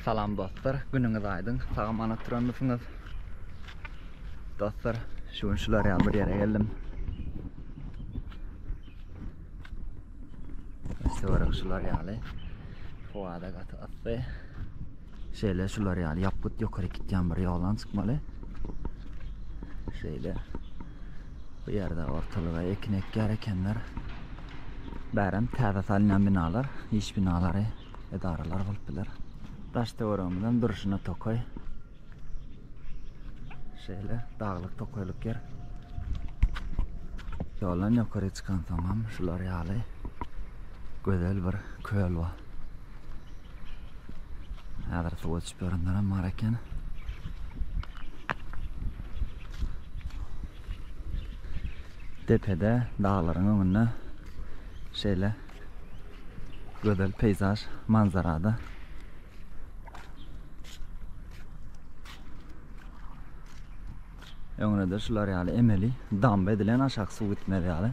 Salam dostlar günüňiz aýdyň sagamanatdrönmisiňiz dostlar şu gün şular ýaly bir ýere geldim Sewara şular ýaly howada gaty ysy şeýle şular ýaly ýapgyt ýokary gitýän bir ýolan çykmaly şeýle bu ýerde ortalyga ekin ekýär ekenler bärem täze salynýan binalar iş binalary edaralar bolup biler. Daş töweregimizden durşuna tokaý. Şeýle daglyk tokaýlyk ýer. Ýoldan ýokary çykansoňam şular ýaly gözel bir köl bar. Häzir suwa düşüp ýörenlerem bar eken. Depede daglaryň öňünde şeýle Gözel peýzaž manzarada. Öňüne-de şular ýaly emeli damba edilen aşak suw gitmez ýaly.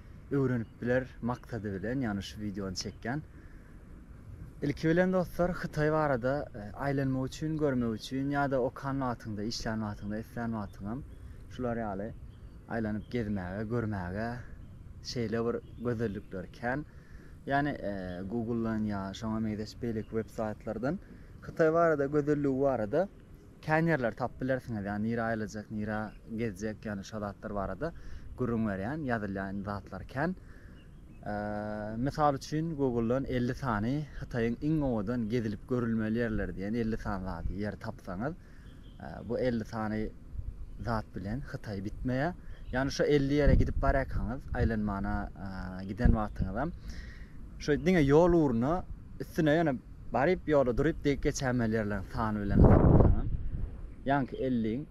öwrenip biler maksady bilen ýagny şu wideony çekýän. Ilki bilen dostlar Hytaý barada e, aýlanmak üçin, görmek üçin ýa-da okan wagtyňda, işlän wagtyňda, islän wagtyňam şular ýaly aýlanyp gezmäge, görmäge şeýle bir gözellikler kän. Ýani e, Google-dan ýa şoňa meňzeş beýleki web saýtlardan Hytaý barada, gözelligi barada Kän ýerleri tapyp bilersiňiz ýa nirä aýlajak nirä gezjek ýagny şo zatlar barada gürrüň berýän ýazylýan zatlar kän mysal üçin google-dan elli sany hytaýyň iň owadan gezilip görülmeli ýerleri diýen elli sany zady ýer tapsaňyz bu elli sany zat bilen hytaý bitmeýä ýagny şo elli ýere gidip barýakaňyz aýlanmana giden wagtyňyzam şo diňe ýol ugruna üstüne ýöne Baryp ýola duryp degip geçämeli ýerleriň sany bilen hasaplasaňam, ýaňky elliň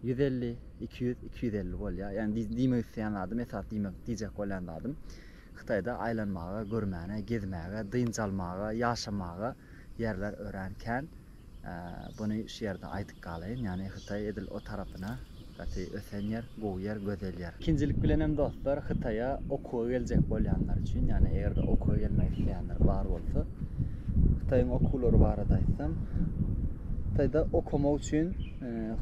ýüz elli, iki ýüz, iki ýüz elli bolýar. Ýagny di diýmek isleýän zadym, esas diýmek diýjek bolýan zadym, Hytaýda aýlanmaga, görmäne, gezmäge, dynç almaga, ýaşamaga ýerler örän kän. Buny şu ýerde aýdyp galaýyn, ýagny Hytaý edil o tarapyna gaty ösen ýer, gowy ýer, gözel ýer. Ikinjilik bilenem dostlar Hytaýa okuwa geljek bolýanlar üçin, ýagny eger-de okuwa gelmek isleýänler bar bolsa, Hytaýyň okuwlary barada aýtsam, Hytaýda okamak üçin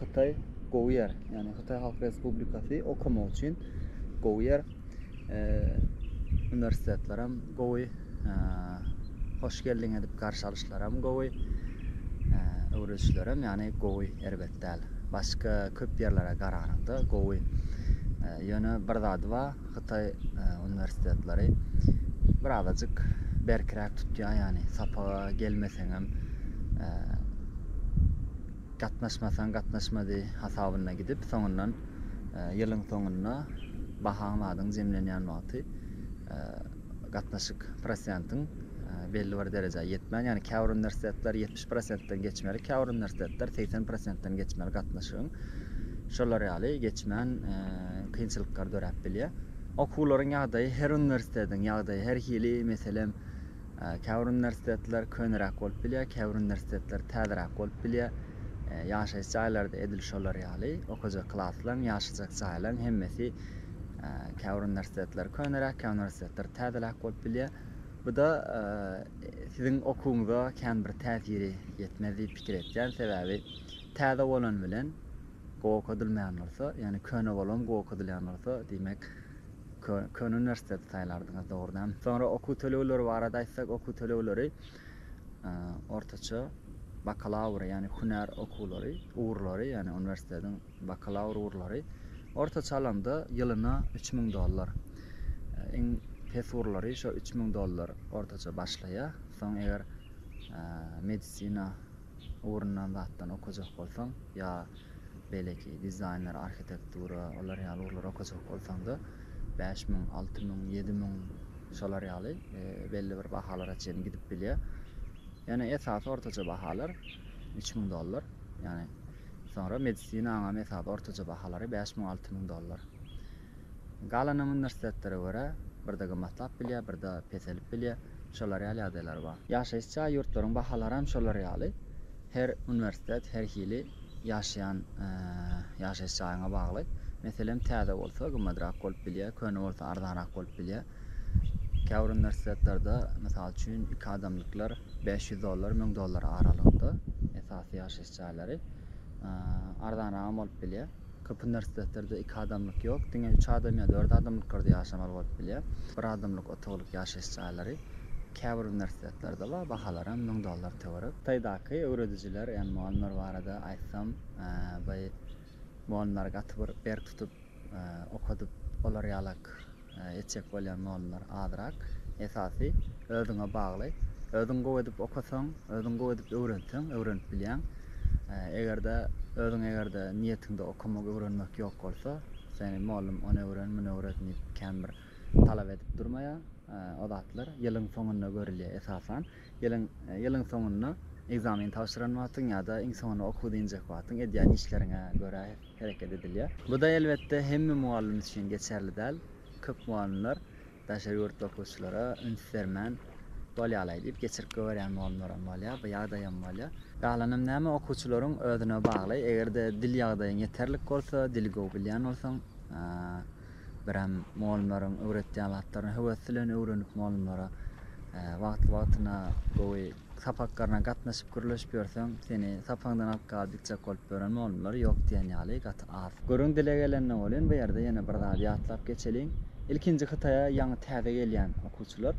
Hytaý gowy ýer. Ýagny Hytaý Halk Respublikasy okamak üçin gowy ýer. e, üniversitetler hem gowy, e, hoş geldiň edip garşy alyşlar hem gowy, e, öwredişler hem yani gowy, erbet däl. Başka köp yerlere garananda gowy. E, yöne bir zady var, Xitay e, üniversitetleri bir azajyk berkirak tutýar, yani sapaga gelmeseňem, e, Gatnaşmasaň gatnaşmady hasabyna gidip, soňundan ýylyň soňunda bahaň badyň jemlenýän wagty gatnaşyk prosentiň belli bir derejä ýetmän, ýagny käbir uniwersitetler ýetmiş prosentden geçmeli, käbir uniwersitetler segsen prosentden geçmeli gatnaşygyň. Şolar ýaly geçmän kynçylyklar döräp bilýär. Okuwlaryň ýagdaýy her uniwersitetiň ýagdaýy her hili, meselem, Käbir uniwersitetler köneräk bolup bilýär, käbir uniwersitetler täzeräk bolup bilýär. Ýaşaýyş jaýlary-da edil şolar ýaly. Okajak klaslaryň, ýaşajak jaýlaryň hemmesi käbir uniwersitetler köneräk, käbir uniwersitetler täzeräk bolup bilýär. Bu-da siziň okuwyňyza kän bir täsiri ýetmez diýip pikir etýän. Sebäbi täze bolan bilen gowy okadylmaýan bolsa, ýagny köne bolam gowy okadylýan bolsa, diýmek, Köne uniwersiteti saýlardyňyz dogrudanam. Soňra okuw tölegleri barada aýtsak, okuw tölegleri ortaça bakalawr, ýagny hünär okuwlary, ugurlary, ýagny uniwersitetiň bakalawr ugurlary ortaça alanda ýylyna üç müň dollar. Iň pes ugurlary şo üç müň dollar ortaça başlaýar. Soň eger medisina Ugranan zatdan okajak bolsaň, ýa beýleki dizaýner, arhitektura, olar ýaly ugurlary okajak bolsaň-da, bäş müň, alty müň, ýedi müň, şolar ýaly belli bir bahalara çenli gidip bilýär. Ýöne esasy ortaça bahalar üç müň dollar. Ýagny, soňra medisinaň hem esasy ortaça bahalary bäş müň, alty müň dollar. Galanyny uniwersitetlara görä, birde gymmatlap bilýär, birde peselip bilýär. Şolar ýaly ýagdaýlar bar. Ýaşaýyş jaý ýurtlaryň bahalaram şolar ýaly. Her uniwersitet her hili ýaşaýan ýaşaýyş jaýyňa bagly. Meselem, täze bolsa gymmadrak bolup bilýär, köne bolsa arzanrak bolup bilýär. Käbir uniwersitetlerde, mysal üçin, iki adamlyklar bäş ýüz dollar, müň dollar aralygynda esasy ýaşaýyş jaýlary. Arzanragam bolup bilýär. Köp uniwersitetleride iki adamlyk ýok, diňe üç adam ýa dört adamlyklarda ýaşamaly bolup bilýär. Bir adamlyk otaglyk ýaşaýyş jaýlary käbir uniwersitetlerde bar, bahalaram müň dollar töwerek. Hytaýdaky öwredijiler, ýagny mugallymlar barada aýtsam, baý mugallymlary gaty bir berk tutup okadyp, olar ýalak Etjek bolýan nollar azrak. Esasy özüňe bagly. Özüň gowy edip okasaň, özüň gowy edip öwrenseň, öwrenip bilýäň. Eger-de özüň eger-de niýetiňde okamak, öwrenmek ýok bolsa, seni mugallym ony öwren, muny öwret diýip kän bir talap edip durmaýar. O zatlar ýylyň soňunda görülýär esasan. Ýylyň ýylyň soňunda ekzamen tabşyran wagtyň ýa-da iň soňuna okuw dynjak wagtyň edýän işleriňe görä hereket edilýär. Bu-da elbetde hemme mugallym üçin geçerli däl. Köp mugallymlar daşary ýurtly okuwçylara üns bermän, Bolýa-laý diýip, geçirip goýberýän mugallymlaram bolýar. Bu ýagdaýam bolýar. Galanam näme, okuwçylaryň özüne bagly. Eger-de dil ýagdaýyň ýeterlik bolsa, dili gowy bilýän bolsaň, birem mugallymlaryň öwretýän zatlaryny höwes bilen öwrenip, mugallymlara wagtly-wagtyna gowy Sapakgaryna gatnaşyp gürleşip ýörseň, seni sapagyňdan alyp galyp gitjek bolup ýören mugallymlar ýok diýen ýaly gaty az. Gürrüň dile gelende welin bu ýerde ýene bir zady ýatlap geçeliň. Ilkinji Hytaýa ýaňy täze gelýän okuwçylar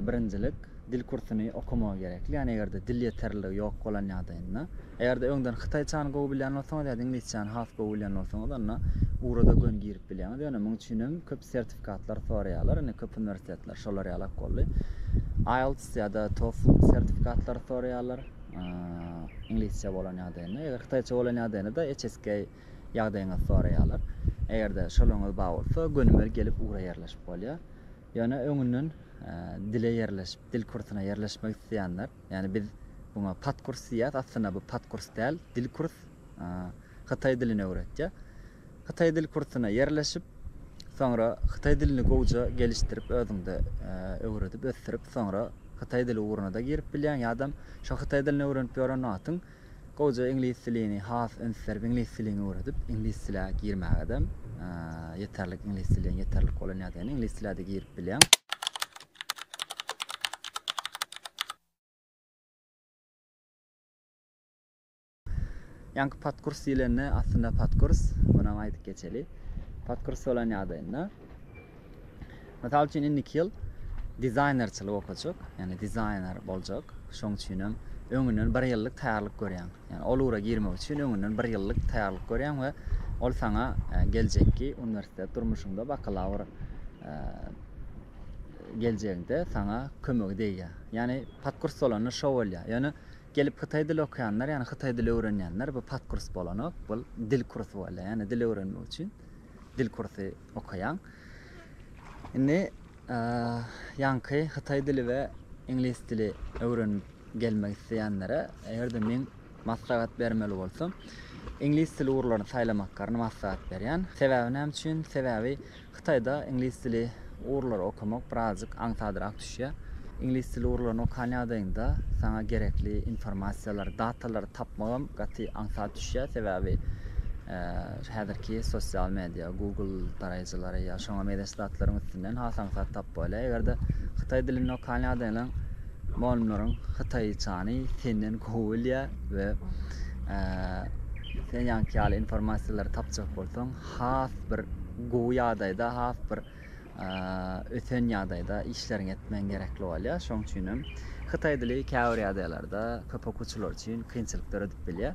birinjilik dil kursuny okamagy gerekli. Ýani eger-de dil ýeterliligi ýok bolan ýagdaýynda. Eger-de öňden hytaýçany gowy bilýän bolsaňyz ýa-da iňlisçäni has gowy bilýän bolsaňyz onda ugra-da gön girip bilýäňiz. Ýöne muň üçin hem köp sertifikatlar soraýarlar, indi köp uniwersitetler şolar ýalak boldy. IELTS ýa-da TOEFL sertifikatlary soraýarlar. Iňlisçe bolan ýagdaýynda, eger hytaýça bolan ýagdaýynda-da HSK ýagdaýyňyzy soraýarlar. Eger-de şolaryňyz bar bolsa, gönümel gelip ugra ýerleşip bolýar. Ýöne öňünden dile ýerleşip, dil kursuna ýerleşmek isleýänler, ýagny biz buňa pat kurs diýýäs, aslynda bu pat kurs däl, dil kurs. hytaý dilini öwretýär. Hytaý dil kursuna ýerleşip, soňra hytaý dilini gowja gelişdirip, özüňde e, öwredip, ösdürip, soňra hytaý dili ugruna-da girip bilýäň, ýa-dam şo hytaý dilini öwrenip ýören wagtyň gowja iňlis dilini has üns berip, iňlis dilini öwredip, iňlis dile girmäge-de e, ýeterlik iňlis diliň ýeterlik bolan ýagdaýynda iňlis dile-de girip bilýäň. Ýaňky podkurs diýlende aslynda podkurs, muny aýdyp geçeli. Podkurs bolan ýagdaýynda mysal üçin indiki ýyl dizaýnerçilik okajak, ýagny dizaýner boljak. Şoň üçin hem öňünden bir ýyllyk taýýarlyk görýäň. Ýagny ol ugra girmek üçin öňünden bir ýyllyk taýýarlyk görýäň we ol saňa e, geljekki uniwersitet durmuşyňda bakalawr e, geljegiňde saňa kömegi degýär. Ýagny podkurs bolanda şo bolýar. Ýöne Gelip hytaý dili okaýanlar, ýagny hytaý dili öwrenýänler, bu pat kurs bolanok, bul dil kursy bolýar, ýagny dil öwrenmek üçin dil kursy okaýaň. Indi ýaňky hytaý dili we iňlis dili öwrenip gelmek isleýänlere, eger-de men maslahat bermeli bolsam, iňlis dili ugurlaryny saýlamaklaryny maslahat berýän. Sebäbi näme üçin? Sebäbi Hytaýda iňlis dili ugurlary okamak birazjyk aňsadrak düşýär. Iňlis dili ugurlaryny okan ýagdaýyňda saňa gerekli informasiýalary, datalary tapmagam gaty aňsat düşýär. Sebäbi häzirki sosial media, Google daraýjylary ýa şoňa mezeş zatlaryň üstünden has aňsat tapyp bolýar. Eger-de hytaý dilini okan ýagdaýyňda mugallymlaryň hytaýçany senden gowy bilýär we sen ýaňky ýaly informasiýalary tapjak bolsaň has bir gowy ýagdaýda, has bir ösen ýagdaýda işleriňi etmegiň gerekli bolýar. Şonuň üçin hem hytaý dili käbir ýagdaýlarda köp okuwçylar üçin kynçylyk döredip bilýär.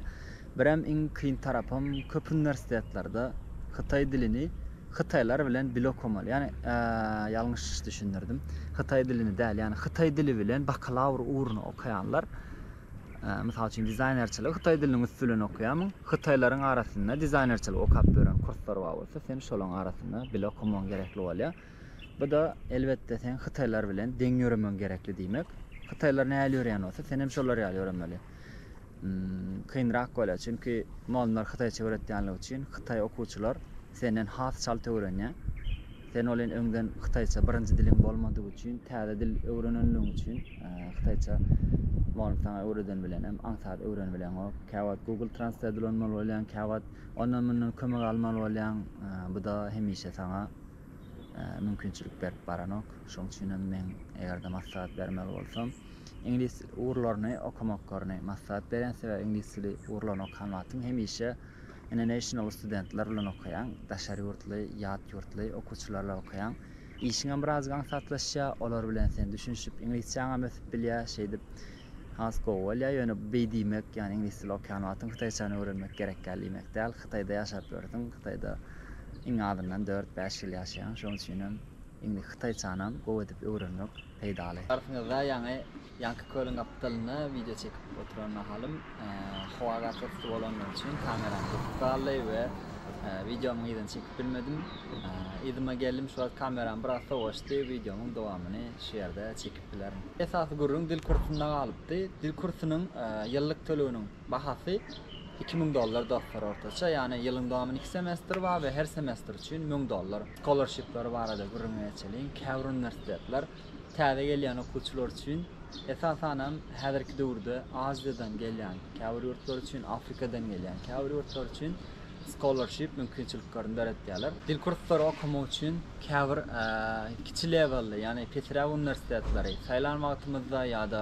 Birem iň kyn tarapym köp uniwersitetlerde hytaý dilini hytaýlar bilen bile okamaly. Ýani ýalňyş düşündirdim. Hytaý dilini däl, ýani hytaý dili bilen bakalawr ugruna okaýanlar Mysal üçin, dizaýnerçiligi hytaý diliniň üsti bilen okaýarmyň? Hytaýlaryň arasynda dizaýnerçiligi okap ýören kurslar bar bolsa, sen şolaryň arasynda bile okamagyň gerekli bolýar. Bu-da, elbetde, seň hytaýlar bilen deň ýöremegiň gerekli diýmek. Hytaýlar nähili ýöreýän bolsa, sen hem şolar ýaly ýöremeli. Kynrak bolýar, çünki mugalymlar hytaýça öwretýänligi üçin hytaý okuwçylar senden has çalt öwrenýär. Sen olin öňden hytaýça birinji diliň bolmadygy üçin, täze dil öwrenenligiň üçin, hytaýça mugallym saňa öwreden bilenem aňsat öwrenibileňok. Käwagt Google Translate ulanmaly bolýaň, käwagt ondan-mundan kömek almaly bolýaň. Bu-da hemişe saňa mümkinçilik berip baranok. Şoň üçinem men eger-de maslahat bermeli bolsam, iňlis ugurlaryny okamakkaryny maslahat berýän. Sebäbi iňlis dili ugurlaryny okan wagtyň hemişe International studentler bilen okaýaň, daşary ýurtly, ýat ýurtly okuwçylar bilen okaýaň. Işiňem birazajyk aňsatlaşýar, olar bilen sen düşünişip, iňlisçäňem ösüp bilýär, şeýdip has gowy bolýar. Ýöne bu beý diýmek, ýagny iňlis dili okaýan wagtyň hytaýçany öwrenmek gerek däl diýmek däl. Hytaýda ýaşap ýörsüň, Hytaýda iň azyndan dört-bäş ýyl ýaşaýaň. Şonuň üçinem iňli hytaýçanam gowy edip öwrenmek peýdaly. Arsyňyzda ýaňy Ýaňky kölüň gapdalynda wideo çekip oturan mahalym howa gaty-yssy bolany üçin kameram gyzyp galdy we wideomyň yzyny çekip bilmedim. Yzyma geldim şu wagt kameram biraz sowaşdy, wideomyň dowamyny şu ýerde çekip bilerin. Esasy gürrüň dil kursunda galypdy. Dil kursunyň ýyllyk töleginiň bahasy iki müň dollar dostlar ortaça, ýagny ýylyň dowamyny iki semestr bar we her semestr üçin müň dollar. Scholarship-ler barada gürrüňe geçeliň, käbir uniwersitetler Täze gelýän okuwçylar üçin, esasanam häzirki döwürde Aziýadan gelýän, käbir ýurtlar üçin Afrikadan gelýän, käbir ýurtlar üçin scholarship mümkinçiliklerini döretýärler. Dil kurslary okamak üçin käbir kiçi lewelli, ýagny pesräk uniwersitetleri saýlan wagtymyzda ýa-da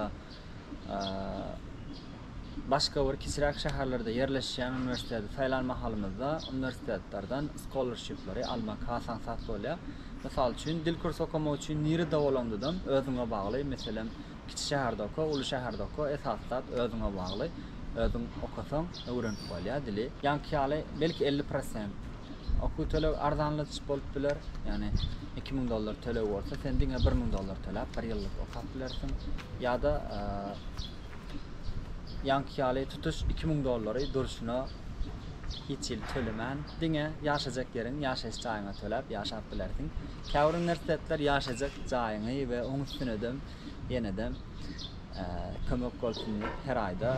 başga bir kiçiräk şäherlerde ýerleşýän uniwersiteti saýlan mahalymyzda uniwersitetlerden scholarship-lary almak has aňsat bolýar. Mysal üçin, dil kursy okamak üçin nirede bolandydan özüňe bagly, meselem, kiçi şäherde oka, uly şäherde oka, esasy zat özüňe bagly. Özüň okasaň, öwrenip bolýar dili. Ýaňky ýaly, belki elli prosent Okuw töleg arzanladyş bolup biler, ýagny iki müň dollar töleg bolsa, sen diňe bir müň dollar töläp, bir ýyllyk okap bilersiň, ýa-da ýaňky ýaly tutuş iki müň dollary durşuna hiç hili tölemän, diňe ýaşajak ýeriň, ýaşaýyş jaýyňa töläp ýaşap bilersiň. Käbir uniwersitetler ýaşajak jaýyňy we oň üstünedem ýenede Kömek bolsun diýip her aýda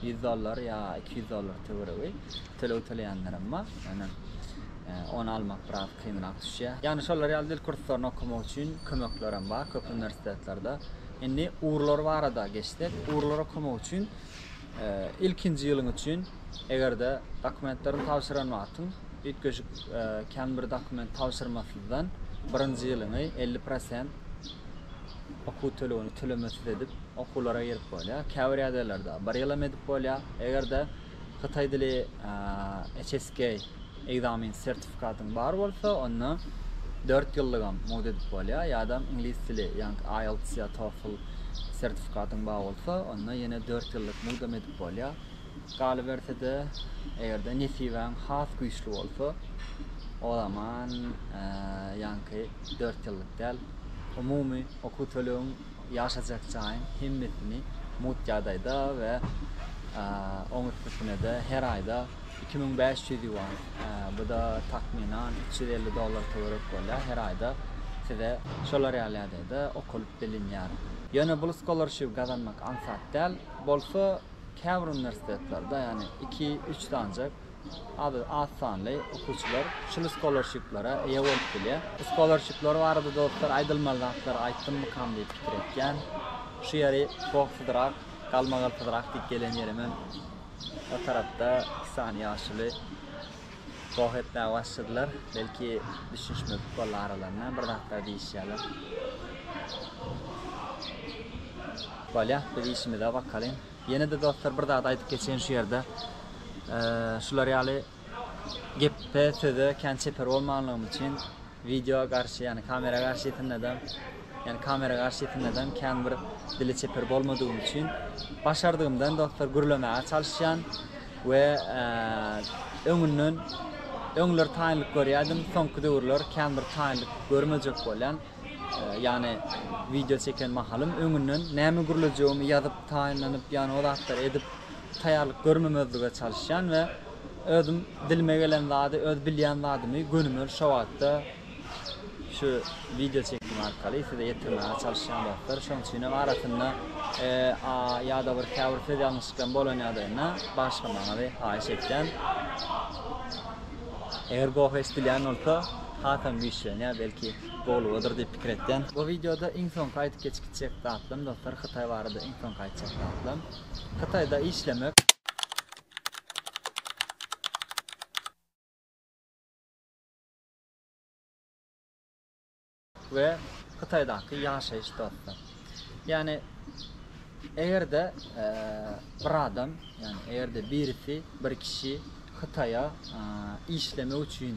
ýüz dollar ýa iki ýüz dollar töweregi töleg töleýänlerem bar. Ýöne ony almak biraz kynrak düşýär. Ýagny şolar ýaly dil kurslaryny okamak üçin kömeklerem bar köp uniwersitetlerde. Indi ugurlar barada geçsek, ugurlar okamak üçin Ilkinji ýylyň üçin, eger-de dokumentlerini tabşyran wagtyň üýtgeşik kän bir dokument tabşyrmasyzdan birinji ýylyňy elli prosent okuw tölegini tölemesiz edip okuwlara girip bolýar. Käbir ýagdaýlarda bir ýylam edip bolýar. Eger-de hytaý dili HSK. Ekzamen sertifikatyň bar bolsa, onda dört ýyllygam mugt edip bolýar, ýa-da iňlis dili, ýagny IELTS ýa TOEFL sertifikatyň bar bolsa, onda ýene dört ýyllyk mugtam edip bolýar. Galyberse-de, eger-de nesibäň has güýçli bolsa, o zaman ýaňky dört ýyllyk däl, umumy okuw tölegiň Ýaşajak jaýyň hemmesini mugt ýagdaýda we oň üstesine-de her aýda iki müň bäş ýüz ýuan, bu-da takmynan üç ýüz elli dollar töwerek bolýar, her aýda size şolar ýaly ýagdaýda okalyp bilinýär. Ýöne bul skolarshiw gazanmak aňsat däl, bolsa käbir uniwersitetlerde, ýagny iki-üç sanjak Ady az sanly okuwçylar şul skolarşiplara eýe bolup bilýär. Bu skolarşipler barada dostlar aýdylmaly zatlary aýtdymmykam diýip pikir etýän. Şu ýeri gohsyzrak, galmagalsyzrak diýip gelen ýerim hem o tarapda iki sany ýaşuly goh etmäge başladylar. Belki düşünişmezlik boldy aralarynda bir zatlar diýişýärler. Bolýa biz işimize bakalyň. Ýene-de dostlar bir zat aýdyp geçeýin şu ýerde. Şular ýaly gepe, söze kän çeper bolmanlygym üçin wideo garşy, ýagny kamera garşysynda-da, ýagny kamera garşysynda-da kän bir dili çeper bolmadygym üçin başardygymdan dostlar gürlemäge çalyşýan we öňünden öňler taýynlyk görýärdim, soňky döwürler kän bir taýynlyk görmejek bolýan. Ýagny wideo çeken mahalym öňünden näme gürlejegimi ýazyp taýynlanyp ýagny o zatlary edip taýýarlyk görmemezlige çalyşýan we özüm dilime gelen zady öz bilýän zadymy gönümel şo wagtda şu wideo çekim arkaly size ýetirmäge çalyşýan dostlar şoň üçinem arasynda a ýada bir käbir söz ýalňyşlykam bolan ýagdaýynda bagyşlamagyňyzy haýyş etýän eger gohy eşdilýän bolsa. hasam güýçlenýär, belki gowlugadyr diýip pikir etýän. Bu wideoda iň soňky aýdyp geçip gitjek zatlarym dostlar Hytaý barada iň soňky aýtjak zatlarym Hytaýda işlemek, we Hytaýdaky ýaşaýyş dostlar. Ýagny eger-de bir adam, ýagny eger-de birisi, bir kişi Hytaýa işlemek üçin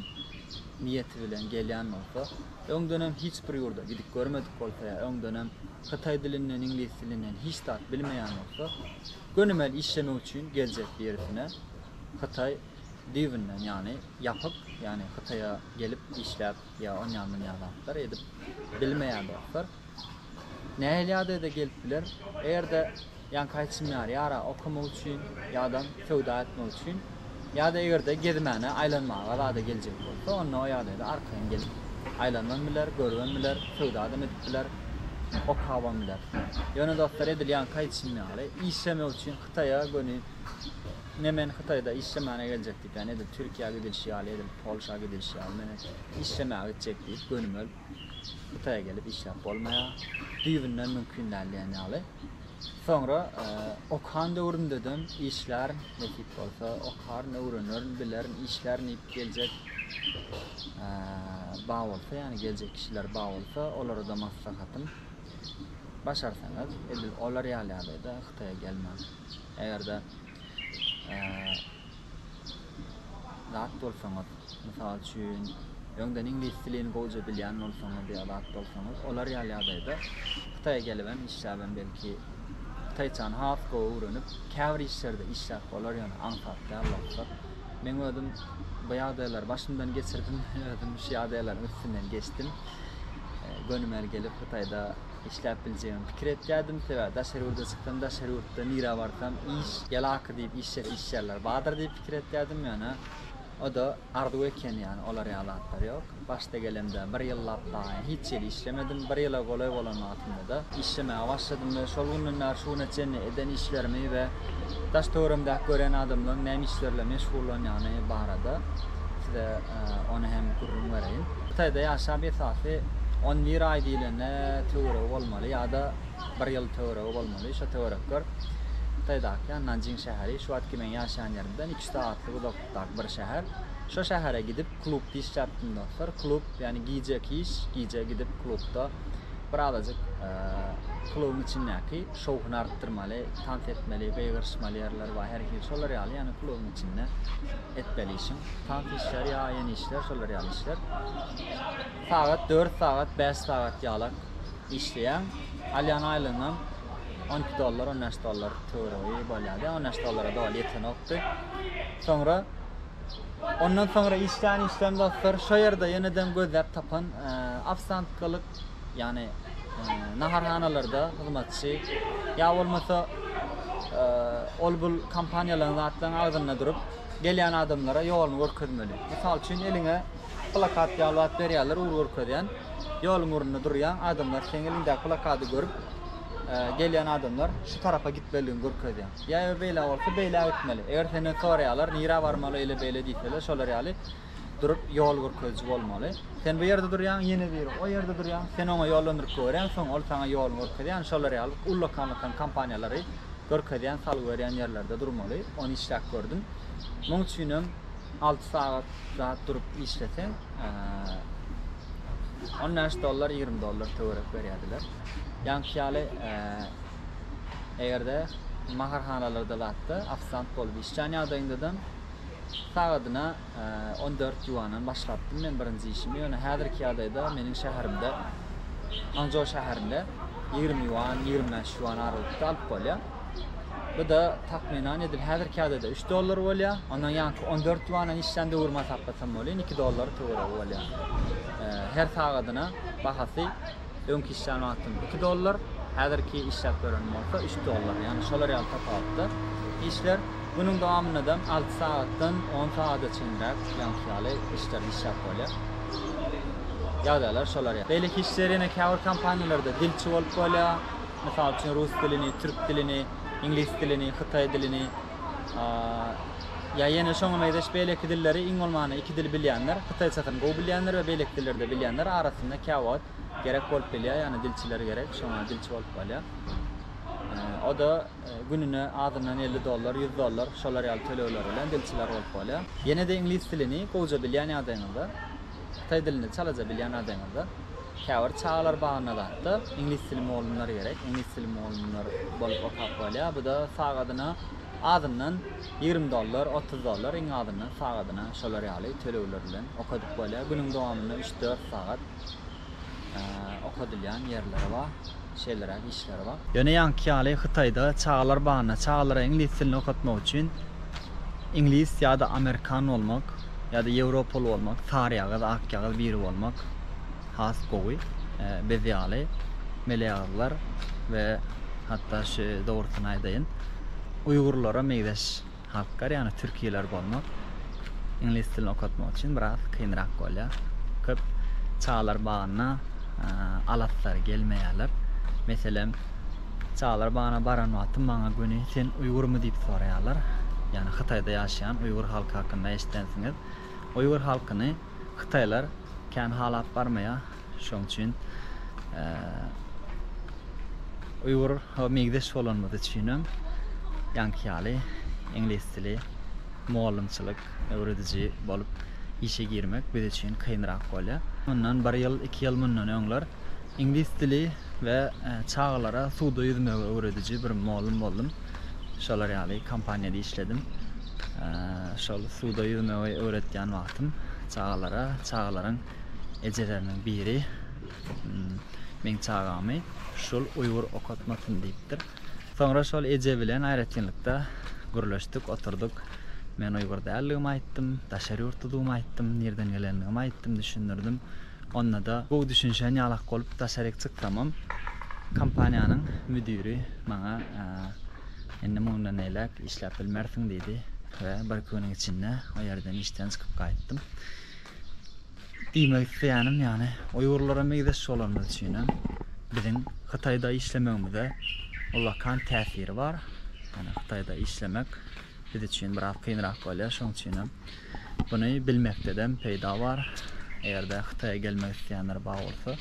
niýeti bilen gelýän bolsa, öňdenem hiç bir ýurda gidip görmedik bolsa ýa öňdenem hytaý dilinden, iňlis dilinden hiç zat bilmeýän bolsa, gönümel işlemek üçin geljek birisine Hytaý düýbünden, ýagny ýapyk, ýagny Hytaýa gelip işläp Ýa onýa munýa zatlar edip bilmeýän dostlar nähili ýagdaýda gelip biler eger-de ýaňky aýtşym ýaly ýara okamak üçin ýadam söwda etmek üçin ýada eger-de gezmäne aýlanmaga zada geljek bolsa onda o ýagdaýda arkaýyn gelip aýlanybam biler görübem biler söwdadam edip biler okabam biler ýöne dostlar edil ýaňky aýtşym ýaly işlemek üçin hytaýa göni Ne men hytaýda işlemäne geljek diýip ýa-ni edil türkiýä gidilişi ýaly edil polşa gidilişi ýaly men işlemäge gitjek diýip gönüm ölüp hytaýa gelip işläp bolmaýar düýbünden mümkin däl diýen ýaly soňra okan döwrümdedem işlärin nesip bolsa okaryn öwrenerin bilerin işlärin diýip geljek bar bolsa ýa-ni geljek kişiler bar bolsa olarada maslahatym başarsaňyz edil olar ýaly ýagdaýda hytaýa gelmäň. Eger-de zat bolsaňyz, mysal üçin, öňden iňlis dilini gowja bilýän bolsaňyz ýa zat bolsaňyz, olar ýaly ýagdaýda Hytaýa gelibem işläbem belki hytaýçany has gowy öwrenip, käbir işlerde işläp bolar, ýöne aňsat däl wagtlar. Meň özüm bu ýagdaýlary başymdan geçirdim, özüm şu ýagdaýlaryň üstünden geçdim. Gönümel gelip Hytaýda işläp biljegimi pikir etýärdim, sebäbi daşary ýurda çyksam, daşary ýurtda nirä barsam iş, ýalaky diýip işjäs işleýärler bardyr diýip pikir etýärdim, ýöne o-da arzuw ekeni, ýagny olar ýaly zatlar ýok. Başda gelemde bir ýyllap dagy hiç ýeri işlemedim, bir ýyla golaý bolan wagtymda-da işlemäge başladym we şol günden bäri şu güne çenli eden işlerimi we daş-töweregimdäki görýän adamlaryň näme işler bilen meşgullanýany barada size ony hem gürrüň bereýin. Hytaýda ýaşap esasy on bir aý diýlende töweregi bolmaly ýa-da bir ýyl töweregi bolmaly. Şo töwerekler Hytaýdaky Nanjing şäheri, şu wagtky meň ýaşaýan ýerimden iki sagatlyk uzaklykdaky bir şäher. Şo şähere gidip klubda işläpdim dostlar. Klub ýagny gijeki iş, gije gidip klubda bir azajyk klubyň içindäki şowhuny artdyrmaly, tans etmeli, gygyryşmaly ýerler bar, her hili şolar ýaly ýagny klubyň içinde. etmeli işiň tans işleri ýa ýene işler şolar ýaly işler sagat dört sagat bäş sagat ýalak işleýäň alýan aýlygyňam on iki dollar on bäş dollar töweregi bolýardy on bäş dollara doly ýetenokdy soňra ondan soňra işlän işlem dostlar şo ýerde ýeneden gözläp tapan e, ofsiantkalyk ýagny naharhanalarda hyzmatçy ýa bolmasa ol bul kompaniýalaryň zatlaryň agzynda durup gelýän adamlara ýoluny görkezmeli. Mysal üçin eliňe plakat ýaly zat berýärler ugur görkezýän ýoluň ugrunda durýaň adamlar seň eliňdäki plakady görüp gelýän adamlar şu tarapa gitmelidigini görkezýäň. Ýa eger beýle bolsa beýle gitmeli. Eger senden soraýarlar nirä barmaly eýle beýle diýseler şolar ýaly durup ýol görkeziji bolmaly. Sen bu ýerde durýaň, ýene biri o ýerde durýar. Sen oňa ýollandyryp goýberýäň, soň ol saňa ýoluny görkezýär. Ýani şolary ýaly ullakan-ullakan kompaniýalary görkezýän, salgy berýän ýerlerde durmaly. Ony işläp gördüm. Muň üçinem alty sagat zat durup işleseň, on bäş dollar, ýigrimi dollar töwerek berýärdiler. Ýaňky ýaly eger-de naharhanalarda zatda ofisant bolup işlän ýagdaýyňdadam, sagadyna on dört ýuandan başlapdym men birinji işimi, ýöne häzirki ýagdaýda meniň şäherimde, Hanzhou şäherinde ýigrimi ýuan, ýigrimi bäş ýuan aralykda alyp bolýar. Bu-da takmynan edil häzirki ýagdaýda üç dollar bolýar. Ondan ýaňky on dört ýuandan işlän döwrümi hasaplasam welin iki dollar töweregi bolýar. Her sagadyna bahasy Öňki işlän wagtym iki dollar, häzirki işläp ýörenim bolsa üç dollar. Ýagny şolar ýaly tapawutda işler. Günüň dowamyndadam alty sagatdan on sagada çenräk ýaňky ýaly işlerde işläp bolýar. Ýagdaýlar şolar ýaly. Beýleki işler ýene käbir kompaniýalarda dilçi bolup bolýar. Mysal üçin rus dilini, türk dilini, iňlis dilini, hytaý dilini, ýa ýene şoňa meňzeş beýleki dilleri iň bolmanda iki dil bilýänler, hytaýçasyny gowy bilýänler we beýleki dilleri-de bilýänler arasynda käwagt gerek bolup bilýär, ýagny dilçiler gerek, şoňa dilçi bolup galýar. O-da gününe azyndan elli dollar, ýüz dollar şolar ýaly tölegler bilen dilçiler bolup galýar. Ýene-de iňlis dilini gowja bilýän ýagdaýyňyzda, hytaý dilini çalaja bilýän ýagdaýyňyzda Käbir çagalar bagyna zatda iňlis dili mugallymlary gerek, iňlis dili mugallymlary bolup okap bolýar, bu-da sagadyna azyndan ýigrimi dollar, otuz dollar iň azyndan sagadyna şolar ýaly tölegler bilen okadyp bolýar. Günüň dowamynda üç-dört sagat okadylýan ýerleri bar. şeýleräk işleri bar. Ýöne ýaňky ýaly Hytaýda çagalar bagynda çagalara iňlis dilini okatmak üçin iňlis ýa-da amerikan bolmak ýa-da ýewropaly bolmak, saryýagyz, akýagyz biri bolmak has gowy. Biz ýaly meleýagyzlar we hatda şu dogrusyny aýdaýyn, uýgurlara meýzeş. Halklar ýagny türkiler bolmak iňlis dilini okatmak üçin biraz kynrak bolýar. Köp çagalar bagyna alaslary gelmeýärler. Meselem çagalar bagyna baran wagtym maňa göni sen uýgurmy diýip soraýarlar. Ýagny hytaýda ýaşaýan uýgur halky hakynda eşidensiňiz. Uýgur halkyny hytaýlar kän halap barmaýar. Şoň üçin uýgur ho meňzeş bolanymyz üçinem ýaňky ýaly iňlis dili mugallymçylyk öwrediji bolup işe girmek biz üçin kynrak bolýar. Mundan bir ýyl, iki ýyl mundan öňler iňlis dili we çagalara suwda ýüzmegi öwrediji bir mugallym boldum. Şolar ýaly kompaniýada işledim. Şol suwda ýüzmegi öwretýän wagtym çagalara, çagalaryň ejeleriniň biri hmm, meň çagamy şul uýgur okatmasyn diýipdir. Soňra şol eje bilen aýratynlykda gürleşdik, oturduk. Men uýgur däldigimi aýtdym, daşary ýurtludygymy aýtdym, nirden gelendigimi aýtdym, düşündirdim. Onda-da bu düşünişen ýalak bolup daşaryk çyksamam, kompaniýanyň müdiri maňa indi mundan beýläk işläp bilmersiň diýdi we bir-iki günüň içinde o ýerden işden çykyp gaýtdym. Diýmek isleýänim ýagny uýgurlara meýzeş bolanymyz üçinem biziň Hytaýda işlemegimize ullakan täsiri bar. Ýagny Hytaýda işlemek biz üçin biraz kynrak bolýar. Şoň üçinem buny bilmekdedem peýda bar. Eger-de Hytaýa gelmek isleýänler bar bolsa,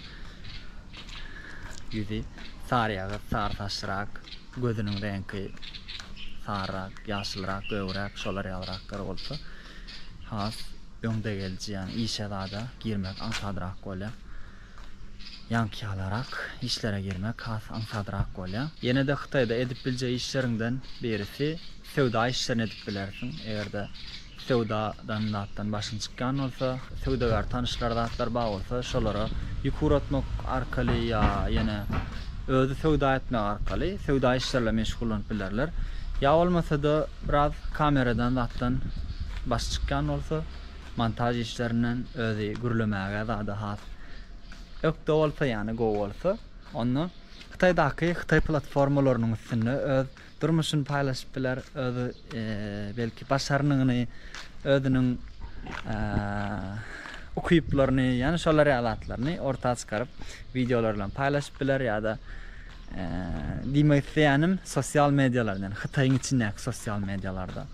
ýüzi saryýagyz, sary saçlyrak, gözüniň reňki saryrak, ýaşylrak, gögräk, şolar ýalyraklar bolsa, has öňdegelji ýagny işe zada girmek aňsadrak bolýar. Ýaňky ýalarak işlere girmek has aňsadrak bolýar. Ýene-de Hytaýda edip biljek işleriňden birisi söwda işlerini edip bilersiň. Eger-de söwdadan zatdan başyň çykýan bolsa, söwdagär tanyşlar zatlar bar bolsa şolara ýük ugratmak arkaly ýa ýene özi söwda etmek arkaly söwda işleri bilen meşgullanyp bilerler. Ýa bolmasa-da Biraz kameradan zatdan başy çykýan bolsa montaž işlerinden özi gürlemäge zada has ökde bolsa ýani gowy bolsa onda hytaýdaky hytaý platformalarynyň üstünde öz durmuşyny paýlaşyp biler öz belki başarnygyny özüniň ukyplaryny ýani şolar ýaly zatlaryny orta çykaryp wideolar bilen paýlaşyp biler ýada Diýmek isleýänim, sosial medialarda, ýani Hytaýyň içindäki sosial medialarda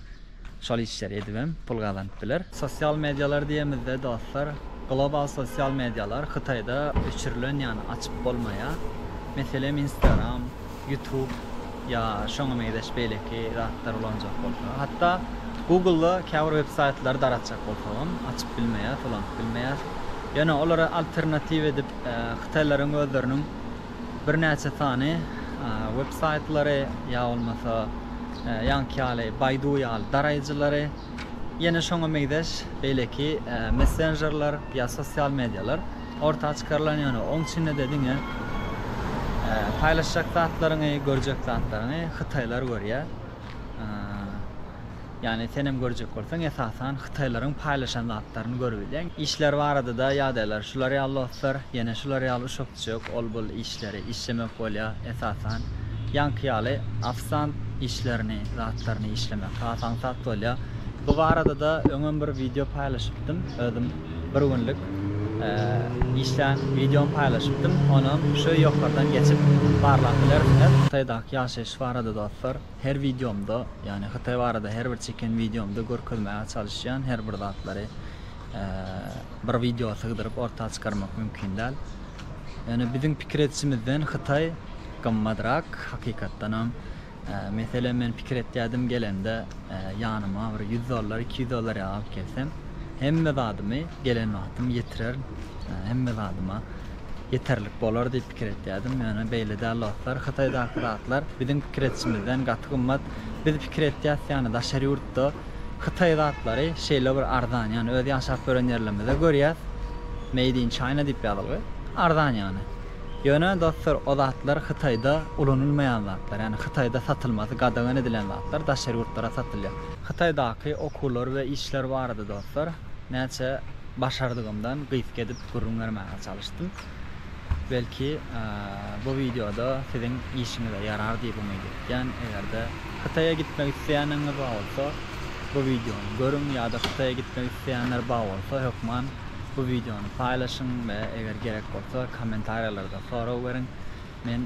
şol işleri edip hem pul gazanyp biler. Sosial medialar diýemizde, dostlar, global sosial medialar Hytaýda öçürilen, ýani açyp bolmaýar. Meselem, Instagram, YouTube ýa şoňa meňzeş beýleki zatlar ulanjak bolsa, hatda Google-da käbir websaýtlary daratjak bolsagam açyp bilmeýäs, ulanyp bilmeýäs. Ýöne olara alternatiw edip, hytaýlaryň özleriniň birnäçe sany web saýtlary ýa bolmasa ýaňky ýaly Baidu ýaly daraýjylary ýene şoňa meýzeş beýleki messenjerler ýa sosial medialar orta çykarylan ýöne oň içinde-de diňe paýlaşjak zatlaryňy görjek zatlaryňy hytaýlar görýär. Ýagny senem görjek bolsaň esasan hytaýlaryň paýlaşan zatlaryny görübilýäň. Işler barada-da ýagdaýlar şular ýaly dostlar, ýene şular ýaly uşak-düşek ol-bul işleri işlemek bolýar esasan. Ýaňky ýaly ofisant işlerini, zatlaryny işlemek has aňsat bolýar. Bu barada-da öňem bir wideo paýlaşypdym, özüm bir günlük işlän wideom paýlaşypdym, onam şu ýokardan geçip barlap bilersiňiz. Hytaýdaky ýaşaýyş barada dostlar. Her wideomda, ýagny Hytaý barada her bir çeken wideomda görkezmäge çalyşýan her bir zatlary bir wideoa sygdyryp orta çykarmak mümkin däl. Ýöne biziň pikir edişimizden Hytaý gymmatrak hakykatdanam. Meselem men pikir etýädim gelende ýanyma bir ýüz dollar, iki ýüz dollar ýag alyp gelsem, hemme zadymy gelen wagtym ýetirerin, hemme zadyma ýeterlik bolar diýip pikir etýärdim. Ýöne beýle däl dostlar. Hytaýdaky zatlar biziň pikir edişimizden gaty gymmat. Biz pikir etýäs ýaly daşary ýurtda hytaý zatlary şeýle bir arzan. Ýöne öz ýaşap ýören ýerlerimizde görýäs Made in China diýip ýazylgy. Arzan ýöne. Ýöne dostlar o zatlar Hytaýda ulanylmaýan zatlar. Ýani Hytaýda satylmasy gadagan edilen zatlar daşary ýurtlara satylýar. Hytaýdaky okuwlar we işler barada dostlar näçe başardygymdan gysga edip gürrüň bermäge çalyşdym. Belki bu wideoda siziň işiňize ýarar diýip umyt etýän. Eger-de Hytaýa gitmek isleýäniňiz bar bolsa, bu wideony görüň ýa-da Hytaýa gitmek isleýänler bar bolsa, hökman bu wideony paýlaşyň we eger gerek bolsa, kommentariýalarda sorag beriň. Men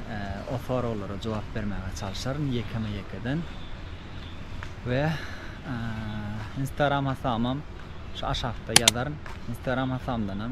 o soraglara jogap bermäge çalşaryn ýekeme-ýekeden. We Instagram hasamam şu aşakda ýazaryn. Instagram hasamdanam